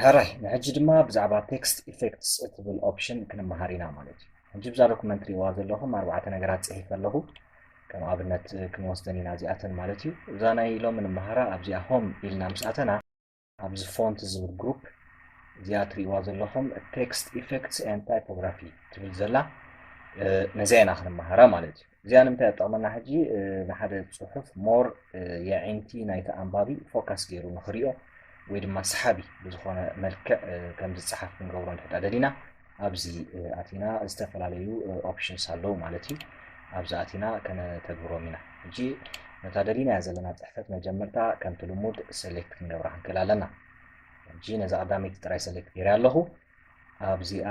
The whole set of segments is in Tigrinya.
ሕራይ ንሕጂ ድማ ብዛዕባ ቴክስት ኢፌክትስ እትብል ኦፕሽን ክንመሃር ኢና ማለት እዩ ሕጂ ብዛ ዶኩመንት ሪዋ ዘለኹም ኣርባዕተ ነገራት ፅሒፈ ኣለኹ ከም ኣብነት ክንወስደን ኢና እዚኣተን ማለት እዩ እዛ ናይ ሎሚ ንመሃራ ኣብዚኣ ሆም ኢልና ምስ ኣተና ኣብዚ ፎንት ዝብል ግሩፕ እዚኣ ትሪእዋ ዘለኹም ቴክስት ኢፌክትስ ኤንድ ታይፖግራፊ ትብል ዘላ ነዚኣ ኢና ክንመሃራ ማለት እዩ እዚኣ ንምንታይ ጠቕመና ሕጂ ንሓደ ፅሑፍ ሞር የዒንቲ ናይቲ ኣንባቢ ፎካስ ገይሩ ንክሪኦ ወይ ድማ ሰሓቢ ብዝኾነ መልክዕ ከም ዝፀሓፍ ክንገብሮ ንሕጣ ደሊና ኣብዚ ኣቲና ዝተፈላለዩ ኦፕሽንስ ኣለዉ ማለት እዩ ኣብዚ ኣቲና ከነተግብሮም ኢና ሕጂ ነታ ደሊናያ ዘለና ጽሕፈት መጀመርታ ከምቲ ልሙድ ሰሌክት ክንገብራ ክንክእል ኣለና ሕጂ ነዛ ቀዳመይቲ ጥራይ ሰሌክት ገይረ ኣለኹ ኣብዚኣ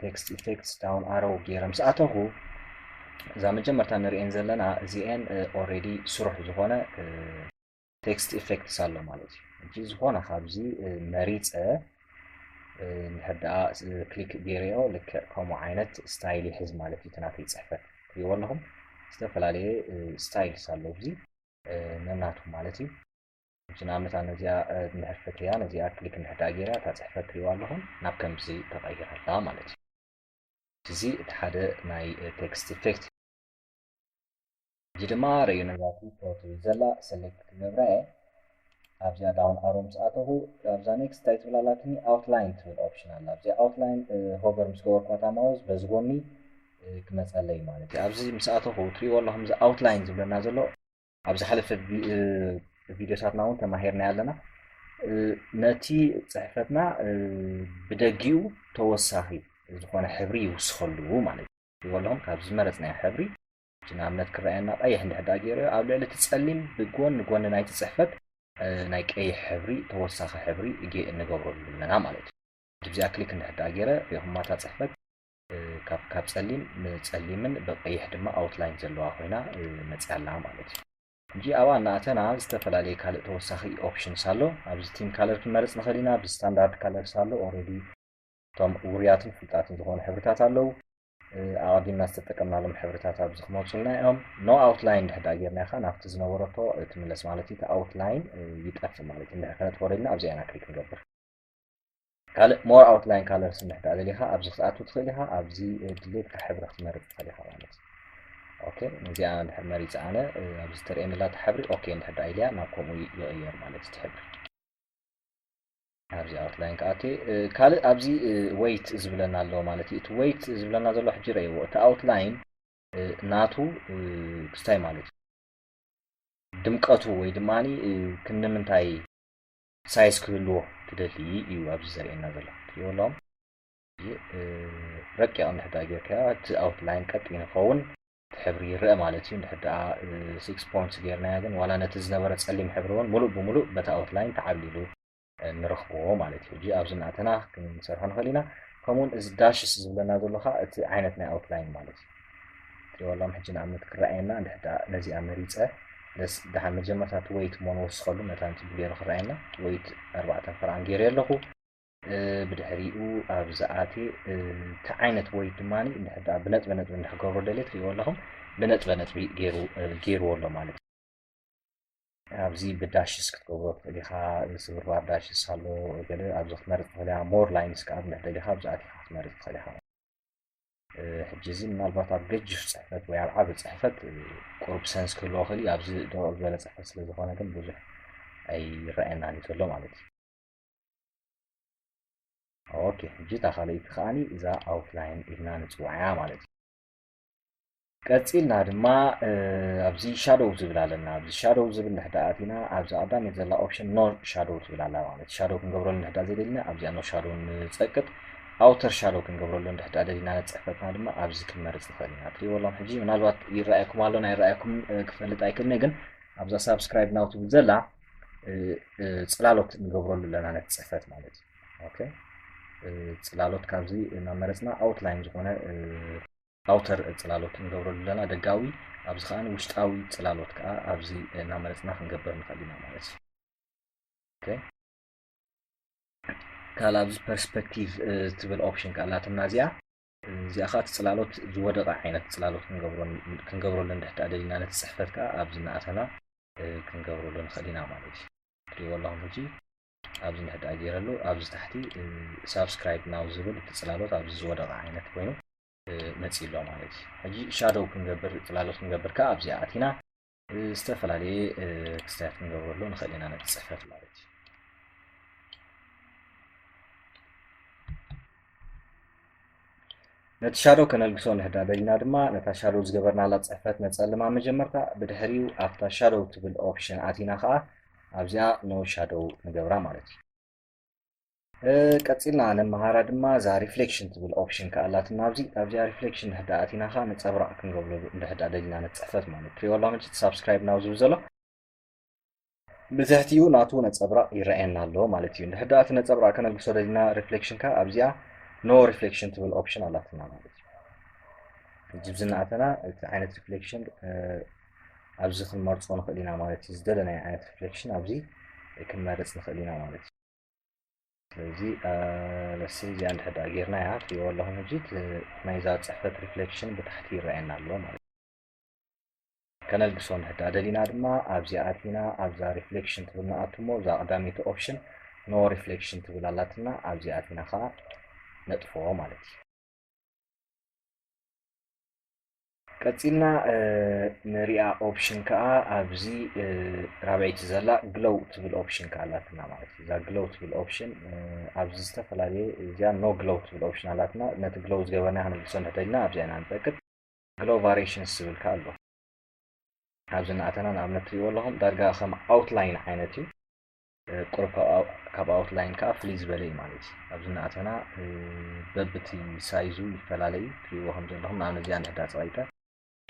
ቴክስት ኢፌክትስ ዳውን ኣረው ገይረ ምስ ኣተኹ እዛ መጀመርታ ንርእየን ዘለና እዚኤን ኦሬዲ ስሩሕ ዝኾነ ቴክስት ኢፌክትስ ኣሎ ማለት እዩ ሕጂ ዝኾነ ካብዚ መሪፀ እንድሕር ደኣ ክሊክ ገይረዮ ልክዕ ከምኡ ዓይነት ስታይል ይሕዝ ማለት እዩ ናተይ ፅሕፈት ትሪእዎ ኣለኹም ዝተፈላለየ ስታይልስ ኣሎ እዚ ነናቱ ማለት እዩ ሕጂ ንኣብነት ኣነ እዚኣ እንድሕር ፈትያ ነዚኣ ክሊክ እንድሕር ደኣ ገይራ እታ ፅሕፈት ትሪእዎ ኣለኹም ናብ ከምዚ ተቐይራ ኣላ ማለት እዩ እዚ እቲ ሓደ ናይ ቴክስት ኢፌክት እዚ ድማ ርእዩ ነዛቲ ፎቶ ዘላ ሰለክት ክገብራ እየ ኣብዚኣ ዳውን ኣሮ ምስ ኣተኹ ኣብዛ ኔክስት እንታይ ትብል ኣላትኒ ኣውትላይን ትብል ኦፕሽን ኣላ ኣብዚ ኣውትላይን ሆቨር ምስ ገበርኳታ ማውዝ በዚ ጎኒ ክመፀለይ ማለት እዩ ኣብዚ ምስ ኣተኹ ትሪእዎ ኣለኹም እዚ ኣውትላይን ዝብለና ዘሎ ኣብ ዝሓለፈ ቪዲዮታትና እውን ተማሂርናዮ ኣለና ነቲ ፅሕፈትና ብደጊኡ ተወሳኺ ዝኾነ ሕብሪ ይውስኸሉ ማለት እዩ ዝበሎም ካብ ዝመረጽናዮ ሕብሪ፣ እቲ ንኣብነት ክረኣየና ቀይሕ እንድሕር ደኣ ገይሩዮ፣ ኣብ ልዕሊ እቲ ጸሊም ብጎን ጎኒ ናይቲ ጽሕፈት ናይ ቀይሕ ሕብሪ ተወሳኺ ሕብሪ ጌእ ንገብረሉ ኣለና ማለት እዩ። ድብዚኣ ክሊክ እንድሕር ደኣ ገይረ ሪእኹማ እታ ጽሕፈት ካብ ካብ ጸሊም ንጸሊምን ብቀይሕ ድማ ኣውትላይን ዘለዋ ኮይና መጽያ ኣላ ማለት እዩ። ሕጂ ኣብኣ እናኣተና ዝተፈላለየ ካልእ ተወሳኺ ኦፕሽንስ ኣሎ። ኣብዚ ቲም ካለር ክንመርጽ ንኽእል ኢና፣ ብስታንዳርድ ካለርስ ኣሎ ኦረዲ፣ እቶም ውሩያትን ፍሉጣትን ዝኾኑ ሕብርታት ኣለዉ። ኣቐዲምና ዝተጠቀምናሎም ሕብርታት ኣብዚ ክመፁልና እዮም። ኖ ኣውትላይን ድሕር ዳኣ ጌርና ኢኻ ናብቲ ዝነበረቶ ትምለስ ማለት እዩ። እቲ ኣውትላይን ይጠፍእ ማለት እዩ። ድሕር ከነጥፎ ደሊና ኣብዚኣ ኢና ክሊክ ንገብር። ካልእ ሞር ኣውትላይን ካለርስ እንድሕር ዳኣ ደሊኻ ኣብዚ ክትኣቱ ትኽእል ኢኻ። ኣብዚ ድሌትካ ሕብሪ ክትመርፅ ትኽእል ኢኻ ማለት እዩ። ኦኬ እዚኣ እንድሕር መሪፀ ኣነ ኣብዚ ተርእየኒ ዘላታ ሕብሪ ኦኬ እንድሕር ዳኣ ኢልያ ናብ ከምኡ ይቕየር ማለት እቲ ሕብሪ ኣብዚ ኣውትላይን ክኣቲ ካልእ ኣብዚ ወይት ዝብለና ኣሎ ማለት እዩ እቲ ወይት ዝብለና ዘሎ ሕጂ ረእይዎ እቲ ኣውትላይን ናቱ ክስታይ ማለት እዩ ድምቀቱ ወይ ድማ ክንምንታይ ሳይዝ ክህልዎ ትደሊ እዩ ኣብዚ ዘርእየና ዘሎ ትሪእዎ ኣለኹም ረቂቕ እንድሕዳ ጌርካዮ እቲ ኣውትላይን ቀጥ ይንኸውን እቲ ሕብሪ ይረኣ ማለት እዩ እንድሕር ደኣ ሲክስ ፖይንትስ ጌርናዮ ግን ዋላ ነቲ ዝነበረ ጸሊም ሕብሪ እውን ምሉእ ብምሉእ በቲ ኣውትላይን ተዓብሊሉ ንረኽቦ ማለት እዩ ሕጂ ኣብዚ እናእተና ክንሰርሖ ንኽእል ኢና ከምኡውን እዚ ዳሽስ ዝብለና ዘሎ ከዓ እቲ ዓይነት ናይ ኣውትላይን ማለት እዩ ትሪዋሎም ሕጂ ንኣብነት ክረኣየና እንድሕር ደኣ ነዚኣ መሪፀ ደስ ደሓን መጀመርታ እቲ ወይት እሞ ንወስኸሉ መታን ጽቡቅ ገይሩ ክረኣየና ወይት ኣርባዕተ ፍርኣን ገይረ ኣለኹ ብድሕሪኡ ኣብ ዝኣትየ እቲ ዓይነት ወይ ድማ ብነጥበ ነጥቢ እንድሕገብሮ ደልየ ትሪእዎ ኣለኹም ብነጥበ ነጥቢ ገይርዎ ኣሎ ማለት እዩ ኣብዚ ብዳሽስ ክትገብሮ ትኽእል ኢኻ ስብርባር ዳሽስ ኣሎ ገለ ኣብዚ ክትመርፅ ትኽእል ኢኻ ሞር ላይንስ ከዓ ብንሕ ደሊኻ ኣብዚ ኣቲኻ ክትመርፅ ትኽእል ኢኻ ሕጂ እዚ ምናልባት ኣብ ገጅፍ ፅሕፈት ወይ ኣብ ዓብ ፅሕፈት ቁርብ ሰንስ ክህልዎ ክእል ኣብዚ ደረቕ ዝበለ ፅሕፈት ስለ ዝኾነ ግን ብዙሕ ኣይረኣየናን እዩ ዘሎ ማለት እዩ ኦኬ ሕጂ እታ ካልኣይቲ ከዓኒ እዛ ኣውትላይን ኢልና ንፅውዓ እያ ማለት እዩ ቀፂልና ድማ ኣብዚ ሻዶው ዝብል ኣለና ኣብዚ ሻዶው ዝብል ንሕዳ ኣቲና ኣብዚ ቀዳመት ዘላ ኦፕሽን ኖ ሻዶው ትብል ኣላ ማለት ሻዶው ክንገብረሉ ንሕዳ ዘይደሊና ኣብዚኣ ኖ ሻዶው ንፀቅጥ ኣውተር ሻዶው ክንገብረሉ ንድሕዳ ደሊና ንፅሕፈትና ድማ ኣብዚ ክንመርፅ ንኽእል ኢና ትሪእዎ ኣሎም ሕጂ ምናልባት ይረኣየኩም ኣሎን ኣይረኣየኩም ክፈልጥ ኣይክእልነ ግን ኣብዛ ሳብስክራይብ ናው ትብል ዘላ ፅላሎት ንገብረሉ ኣለና ነቲ ፅሕፈት ማለት እዩ ፅላሎት ካብዚ እናመረፅና ኣውትላይን ዝኾነ ኣውተር ፅላሎት ንገብረሉ ኣለና ደጋዊ ኣብዚ ከዓ ውሽጣዊ ፅላሎት ከዓ ኣብዚ እናመረፅና ክንገብር ንኽእል ኢና ማለት እዩ ካልእ ኣብዚ ፐርስፔክቲቭ ትብል ኦፕሽን ካላትና እዚኣ እዚኣ ከኣ እቲ ጽላሎት ዝወደቐ ዓይነት ጽላሎት ክንገብረሉ እንድሕር ደኣ ደሊና ነቲ ጽሕፈት ከኣ ኣብዚ እናኣተና ክንገብረሉ ንኽእል ኢና ማለት እዩ። ትርእይዎ ኣለኹም ሕጂ ኣብዚ እንድሕር ደኣ ገይረሉ ኣብዚ ታሕቲ ሳብስክራይብ ናው ዝብል እቲ ጽላሎት ኣብዚ ዝወደቐ ዓይነት ኮይኑ መጺኡ ኣሎ ማለት እዩ። ሕጂ ሻዶው ክንገብር ጽላሎት ክንገብር ከኣ ኣብዚኣ ኣቲና ዝተፈላለየ ክስታያት ክንገብረሉ ንኽእል ኢና ነቲ ፅሕፈት ማለት እዩ ነቲ ሻዶ ከነልግሶ ንሕዳደልና ድማ ነታ ሻዶ ዝገበርናላ ፅሕፈት ነፀልማ መጀመርታ ብድሕሪኡ ኣብታ ሻዶ ትብል ኦፕሽን ኣቲና ከዓ ኣብዚኣ ኖ ሻዶ ንገብራ ማለት እዩ ቀጺልና ነመሃራ ድማ እዛ ሪፍሌክሽን ትብል ኦፕሽን ከኣ ኣላትና ኣብዚ ኣብዚኣ ሪፍሌክሽን ድሕር ደኣ ኣቲና ከኣ ነጸብራቕ ክንገብረሉ እንድሕር ደኣ ደሊና ንጽሕፈት ማለት ፕሪዮሎጂ ሳብስክራይብ ናው ዝብል ዘሎ ብትሕቲኡ ናቱ ነጸብራቕ ይረኣየና ኣሎ ማለት እዩ እንድሕር ደኣ እቲ ነጸብራቕ ከነልግሶ ደሊና ሪፍሌክሽን ከኣ ኣብዚኣ ኖ ሪፍሌክሽን ትብል ኦፕሽን ኣላትና ማለት እዩ ጅብዚ እናኣተና እቲ ዓይነት ሪፍሌክሽን ኣብዚ ክንመርጾ ንኽእል ኢና ማለት እዩ። ዝደለናዮ ዓይነት ሪፍሌክሽን ኣብዚ ክንመርጽ ንኽእል ኢና ማለት እዩ። ስለዚ ለሲ እዚኣ እንድሕር ደኣ ጌርና እያ ትሪእዎ ኣለኹም ሕጂ ናይዛ ፅሕፈት ሪፍሌክሽን ብታሕቲ ይረኣየና ኣሎ ማለት እዩ። ከነልግሶ እንድሕር ደኣ ደሊና ድማ ኣብዚ ኣቲና ኣብዛ ሪፍሌክሽን ትብል ንኣቱ እሞ እዛ ቀዳመይቲ ኦፕሽን ኖ ሪፍሌክሽን ትብል ኣላትና ኣብዚ ኣቲና ከዓ ነጥፍኦ ማለት እዩ። ቀጺልና ንሪኣ ኦፕሽን ከኣ ኣብዚ ራብዐይቲ ዘላ ግሎው ትብል ኦፕሽን ከኣ ኣላትና ማለት እዩ። እዛ ግሎው ትብል ኦፕሽን ኣብዚ ዝተፈላለየ እዚኣ ኖ ግሎው ትብል ኦፕሽን ኣላትና ነቲ ግሎው ዝገበርና ክንምልሶ እንተደልና ኣብዚኣ ኢና ንጠቅጥ ግሎው ቫሪሽንስ ዝብል ከኣ ኣሎ ኣብዚ እናኣተና ንኣብነት ትሪእዎ ኣለኹም ዳርጋ ከም ኣውትላይን ዓይነት እዩ። ቁሩብ ካብ ኣውትላይን ከኣ ፍልይ ዝበለ እዩ ማለት እዩ። ኣብዚ እናኣተና በብቲ ሳይዙ ይፈላለ እዩ ትርእይዎ ከም ዘለኹም ንኣብነት እዚኣ እንድሕዳ ጸቒጠ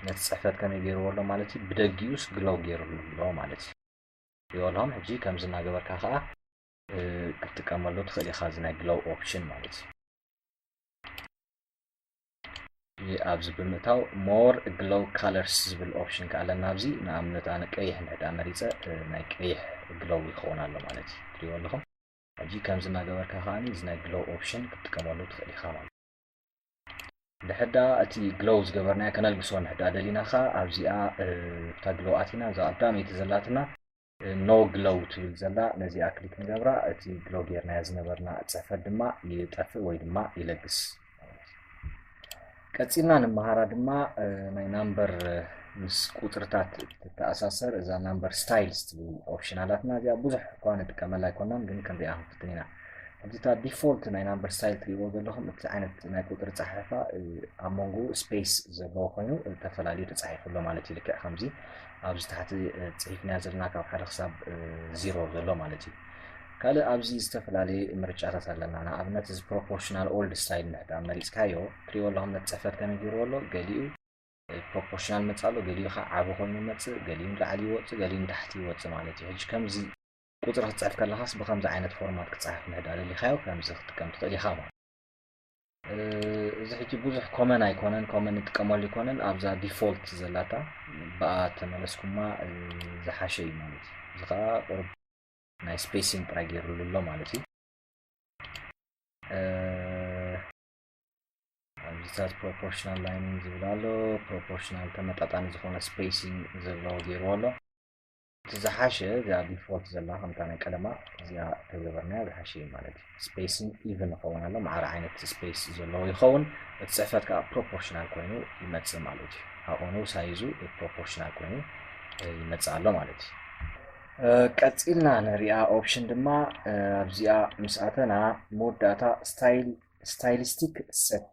ነቲ ጽሕፈት ከመይ ገይርዎ ኣሎ ማለት እዩ ብደጊኡስ ግሎው ገይርሉ ኣሎ ማለት እዩ። ይበልሆም ሕጂ ከምዚ እናገበርካ ከኣ ክትጥቀመሉ ትኽእል ኢኻ እዚ ናይ ግሎው ኦፕሽን ማለት እዩ። ኣብዚ ብምእታው ሞር ግሎው ካለርስ ዝብል ኦፕሽን ከዓ ኣለና ኣብዚ ንኣብነት ኣነ ቀይሕ ንሕዳ መሪፀ ናይ ቀይሕ ግሎው ይኸውን ኣሎ ማለት እዩ ትሪእዎ ኣለኹም ሕጂ ከምዚ እናገበርካ ከዓ እዚ ናይ ግሎው ኦፕሽን ክትጥቀመሉ ትኽእል ኢኻ ማለት ንሕዳ እቲ ግሎው ዝገበርናዮ ከነልግሶ ንሕዳ ደሊና ከዓ ኣብዚኣ እታ ግሎው ኣቲና እዛ ቀዳመይቲ ዘላትና No Glow ትብል ዘላ ነዚኣ ክሊክ ንገብራ እቲ ግሎ ጌርናዮ ዝነበርና ጽሕፈት ድማ ይጠፍእ ወይ ድማ ይለግስ ቀጺልና ንመሃራ ድማ ናይ ናምበር ምስ ቁጽርታት ትተኣሳሰር እዛ ናምበር ስታይልስ ትብል ኦፕሽን ኣላትና እዚኣ ብዙሕ እኳ ንጥቀመላ ኣይኮናን ግን ክንሪኣ ክንፍትን ኢና ከምዚ እታ ዲፎልት ናይ ናምበር ስታይል ትሪእዎ ዘለኹም እቲ ዓይነት ናይ ቁጥሪ ጸሓሕፋ ኣብ መንጎ ስፔስ ዘለዎ ኮይኑ ተፈላለዩ ተጻሒፉ ኣሎ ማለት እዩ ልክዕ ከምዚ ኣብዚ ታሕቲ ጽሒፍናዮ ዘለና ካብ ሓደ ክሳብ ዚሮ ዘሎ ማለት እዩ። ካልእ ኣብዚ ዝተፈላለየ ምርጫታት ኣለና። ንኣብነት እዚ ፕሮፖርሽናል ኦልድ ስታይል ንሕዳ መሪጽካዮ ትሪእዎ ኣለኹም ነቲ ጽሕፈት ከመይ ገይርዎ ኣሎ ገሊኡ ፕሮፖርሽናል መጽእ ኣሎ ገሊኡ ከዓ ዓቢ ኮይኑ መጽእ ገሊኡ ንላዕሊ ይወጽእ ገሊኡ ንታሕቲ ይወጽእ ማለት እዩ። ሕጂ ከምዚ ቁጽሪ ክትጽሕፍ ከለኻስ ብከምዚ ዓይነት ፎርማት ክጸሓፍ ንሕዳ ደሊኻዮ ከምዚ ክትጥቀም ትኽእል ኢኻ ማለት እዚ ሕጂ ብዙሕ ኮመን ኣይኮነን ኮመን ንጥቀመሉ ኣይኮነን ኣብዛ ዲፎልት ዘላታ ብኣ ተመለስኩማ ዝሓሸ እዩ ማለት እዩ እዚ ከዓ ቁርብ ናይ ስፔሲን ጥራይ ገይሩሉ ኣሎ ማለት እዩ ኣብዚታት ፕሮፖርሽናል ላይኒን ዝብል ኣሎ ፕሮፖርሽናል ተመጣጣኒ ዝኾነ ስፔሲን ዘለዎ ገይርዎ ኣሎ እቲ ዝሓሸ እዚኣ ዲፎልት ዘላ ከምታ ናይ ቀደማ እዚኣ ተገበርናያ ዝሓሸ እዩ ማለት እዩ ስፔስን ኢቭን ይኸውን ኣሎ ማዕረ ዓይነት ስፔስ ዘለዎ ይኸውን እቲ ፅሕፈት ከዓ ፕሮፖርሽናል ኮይኑ ይመፅእ ማለት እዩ ኣብኡ ንው ሳይዙ ፕሮፖርሽናል ኮይኑ ይመፅእ ኣሎ ማለት እዩ ቀፂልና ንሪኣ ኦፕሽን ድማ ኣብዚኣ ምስ ኣተና መወዳእታ ስታይሊስቲክ ሰት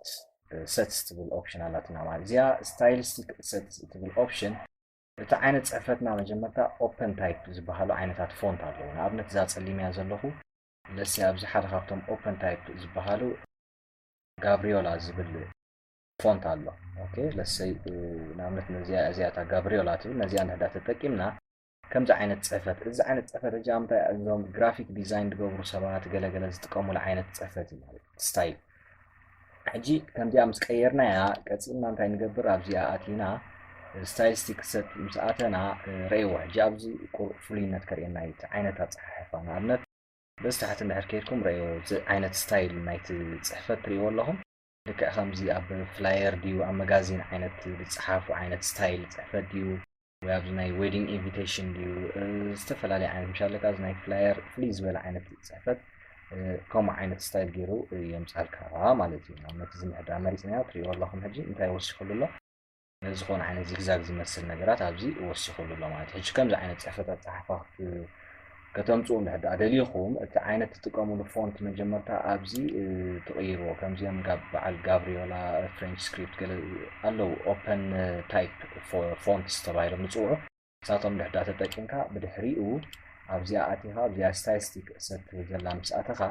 ሰትስ ትብል ኦፕሽን ኣላትና ማለት እዚኣ ስታይሊስቲክ ሰትስ ትብል ኦፕሽን እቲ ዓይነት ጽሕፈትና መጀመርታ ኦፐን ታይፕ ዝበሃሉ ዓይነታት ፎንት ኣለዉ። ንኣብነት እዛ ጸሊመያ ዘለኹ ለሲ ኣብዚ ሓደ ካብቶም ኦፐን ታይፕ ዝበሃሉ ጋብሪዮላ ዝብል ፎንት ኣሎ። ኦኬ ለሰይ ንኣብነት ነዚኣ እዚኣ እታ ጋብሪዮላ ትብል ነዚኣ ንሕዳ ተጠቂምና ከምዚ ዓይነት ጽሕፈት እዚ ዓይነት ጽሕፈት እዚ ኣምታይ እዞም ግራፊክ ዲዛይን ዝገብሩ ሰባት ገለገለ ዝጥቀሙሉ ዓይነት ጽሕፈት እዩ ማለት ስታይል ሕጂ ከምዚኣ ምስ ቀየርናያ ቀጺልና እንታይ ንገብር ኣብዚኣ ኣቲና ስታይስቲክ ሰት ምስ ኣተና ረእይዎ ሕጂ ኣብዚ ፍሉይነት ከርእየና እዩ እቲ ዓይነት ኣፀሓሕፋ ንኣብነት በዚ ታሕቲ እንድሕር ከይድኩም ረእይዎ እዚ ዓይነት ስታይል ናይቲ ፅሕፈት ትርእይዎ ኣለኹም ልክዕ ከምዚ ኣብ ፍላየር ድዩ ኣብ መጋዚን ዓይነት ዝፀሓፉ ዓይነት ስታይል ፅሕፈት ድዩ ወይ ኣብዚ ናይ ዌዲንግ ኢንቪቴሽን ድዩ ዝተፈላለየ ዓይነት ምሻ ኣለካ እዚ ናይ ፍላየር ፍልይ ዝበለ ዓይነት ፅሕፈት ከምኡ ዓይነት ስታይል ገይሩ የምፃልካ ማለት እዩ ንኣብነት እዚ ምሕድራ መሪፅና ትሪእዎ ኣለኹም ሕጂ እንታይ ወሲኹሉ ኣሎ ዝኾነ ዓይነት ዚግዛግ ዝመስል ነገራት ኣብዚ ወሲኹሉ ኣሎ ማለት ሕጂ ከምዚ ዓይነት ፅሕፈት ኣፀሓሕፋ ከተምጽኡ እንድሕር ድኣ ደሊኹም እቲ ዓይነት ትጥቀምሉ ፎንት መጀመርታ ኣብዚ ትቕይርዎ ከምዚኦም ጋብ በዓል ጋብሪዮላ ፍሬንች ስክሪፕት ገለ ኣለዉ ኦፐን ታይፕ ፎንትስ ተባሂሎም ዝጽውዑ ንሳቶም እንድሕር ድኣ ተጠቂምካ ብድሕሪኡ ኣብዚኣ ኣቲኻ ኣብዚኣ ስታይስቲክ እትብል ዘላ ምስ ኣተኻ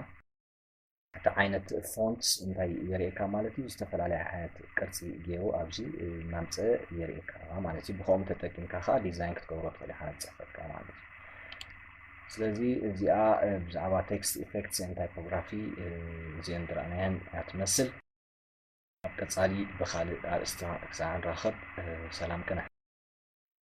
እቲ ዓይነት ፎንት እንታይ የርእየካ ማለት እዩ ዝተፈላለዩ ዓይነት ቅርፂ ገይሩ ኣብዚ እናምፀ የርእየካ ማለት እዩ ብከምኡ ተጠቂምካ ከዓ ዲዛይን ክትገብሮ ትኽእል ኢኻ ፅሕፈትካ ማለት እዩ ስለዚ እዚኣ ብዛዕባ ቴክስት ኢፌክትስ ን ታይፖግራፊ እዚአን ዝረኣናየን እያ ትመስል ኣብ ቀፃሊ ብካልእ ኣርእስቲ ክሳዕ ንራኸብ ሰላም ቅነ